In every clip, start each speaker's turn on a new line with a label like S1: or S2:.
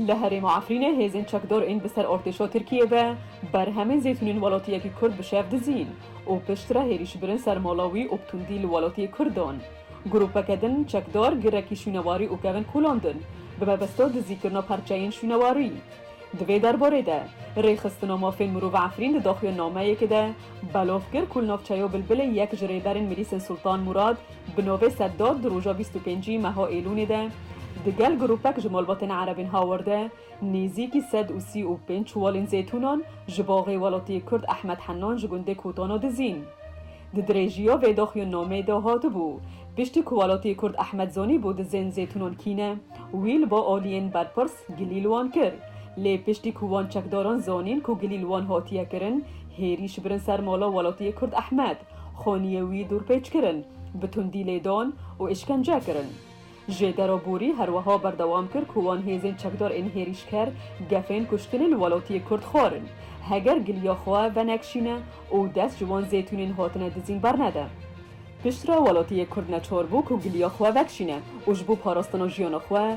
S1: Li herêma Efrînê hêzên çekdor ên bi ser ortêşa Tirkiyê ve berhemên zeytûnên welatiyekî Kurd bi şev dizîn û piştre hêrîş birin ser mala wî û bi tundî li welatiyê Kurd dan. Grûpeke din çekdar girekî şûnewarî û kevin kûlandin bi mebesta dizîkirina perçeyên şûnewarî. Di vê derbarê de Rêxistina Mafên Mirov Efrîn di daxuyanameyekê de belav kir ku li navçeya Bilbilê yek ji rêberên Milîsên Sultan Murad, Bi navê Seddad di roja bîst û pêncî meha Êlûnê de di gel grûpek ji malbatên erebên hawar de nêzîkî sed û sî û pênc çuwalên zeytûnan ji baxê welatiyê Kurd Ehmed Henan ji gundê Kotana dizîn. Di dirêjiya vê daxuyannameyê de hatibû, piştî ku welatiyê Kurd Ehmed zanîbû dizên zeytûnan kî ne, wî li ba aliyên berpirs gilî li wan kir. Lê piştî ku wan çekdaran zanîn ku gilî li wan hatiye kirin, hêrî şibrin ser mala welatiyê Kurd Ehmed. Xoniyê wî dûrpêç kirin, bi tundî lêdan û îşkence kirin. Jêdero Bûrî her wiha berdewam kir ku wan hêzên çekdar ên hêrîşker gefên kuştinê li welatiyê Kurd xwarin, heger giliya xwe venekşîne û dest ji wan zêtûnên hatine dizîn bernede. Piştre welatiyê Kurd neçar bû ku giliya xwe vekşîne û ji bo parastina jiyana xwe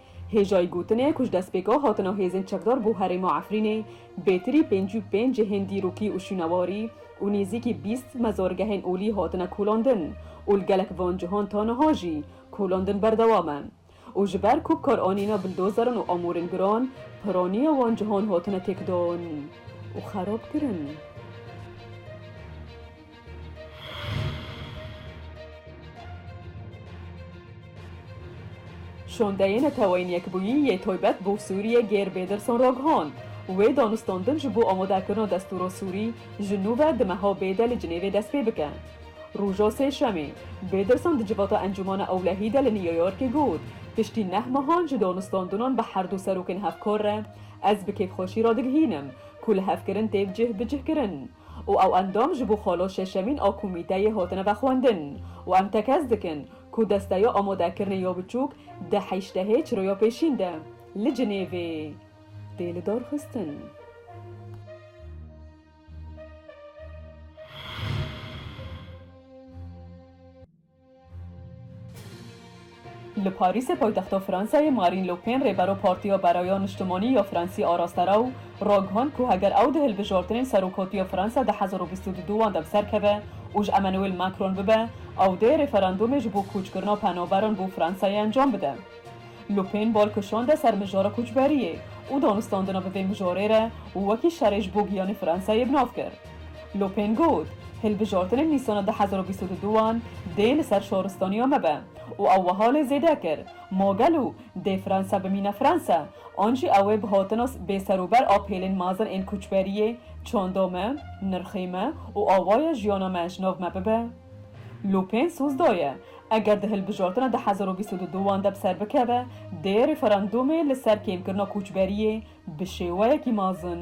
S1: Hêjayî gotin e ku ji destpêka hatina hêzên çekdar bo herêma Efrînê, bêtirî pêncî û pênc cihên dîrokî û şûnewarî û nêzîkî bîst mezargehên olî hatine kolandin û li gelek van cihan ta niha jî kolandin berdewam e û ji ber ku karanîna bildozeran û amûrên giran, piraniya wan cihan hatine têkdan û xerabkirin. Şondeyê Neteweyên Yekbûyî yê Toybet bo Sûriyê Geir Bêdirson Roghon, wê danûstandin ji bo amadekirina destûra Sûrî ji nû ve di meha bêde li Cinêvê dest pê bike. Roja Sêşemê, Bêdirson di civata Encûmana Ewlehî de li New Yorkê got, Piştî neh mehan ji danûstandinan bi herdû serokên hevkar re, ez bi kêfxweşî radigihînim, ku lihevkirin tê cih bi cihkirin. û ew endam ji bo xalo şeşemîn a komîteyê hatine vexwendin û em tekez dikin ku desteya amadekirinê ya biçûk di heştehê çiroya pêşîn de li Cinêvê tê lidarxistin. Li Parîsê paytexta Fransayê Marîn Le Pen rêbero Partiya Beraya Niştimanî ya Fransî araste ra û ragihand ku heger ew di hilbijartinên serokatiya Fransa di hezar û bîst û du wan de bi ser keve û ji Emmanuel Macron bibe ew dê referandûmê ji bo koçkirina penaberan bo Fransayê encam bide. Le Pen bal kişande ser mijara koçberiyê û danûstandina bi vê mijarê re û wekî şerê ji bo giyanê Fransayê bi nav kir. Lopên got, Hilbijartinên Nîsana du hezar û bîst û du wan dê li ser şaristaniya me be û ew wiha lê zêde kir, Ma gelo dê Fransa bimîne Fransa an jî ew ê bi hatina bêserober a pêlên mezin ên koçberiyê çanda me, nirxê me û awaya jiyana me ji nav me bibe? Lopên soz daye, Eger di hilbijartina du hezar û bîst û du wan de bi ser bikeve, dê referandûmê li ser kêmkirina koçberiyê bi şêweyekî mezin.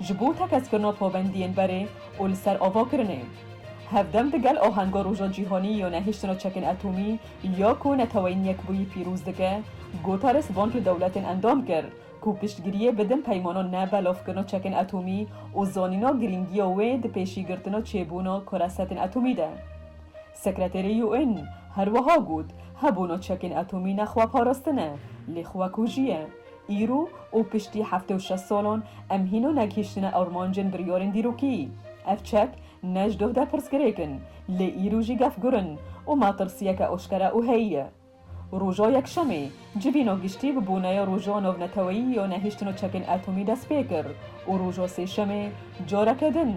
S1: ji bo tekeskirina pabendiyên berê û li ser ava kirinê. Hevdem di gel ahenga Roja Cîhanî ya Nehiştina Çekên Etomî ya ku Neteweyên Yekbûyî pîroz dike, gotare spanc li dewletên endam kir ku piştgiriyê bidin peymana ne belavkirina çekên etomî û zanîna girîngiya wê di pêşîgirtina çêbûna karesetên etomî de. Sekreterê UN her wiha got, Hebûna çekên atomî ne xweparastin e, lê xwekujî ye. Îro û piştî heftê û şeş salan em hîna negihîştine armancên biryarên dîrokî. Ev çek ne ji doh de pirsgirêk in, lê îro jî gefgur in û metirsiyeke eşkere û heyî ye. Roja Yekşemê, civîna giştî bi boneya Roja Navneteweyî ya Nehiştin û Çekên Atomî dest pê kir û roja Sêşemê careke din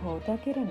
S1: hate kirin.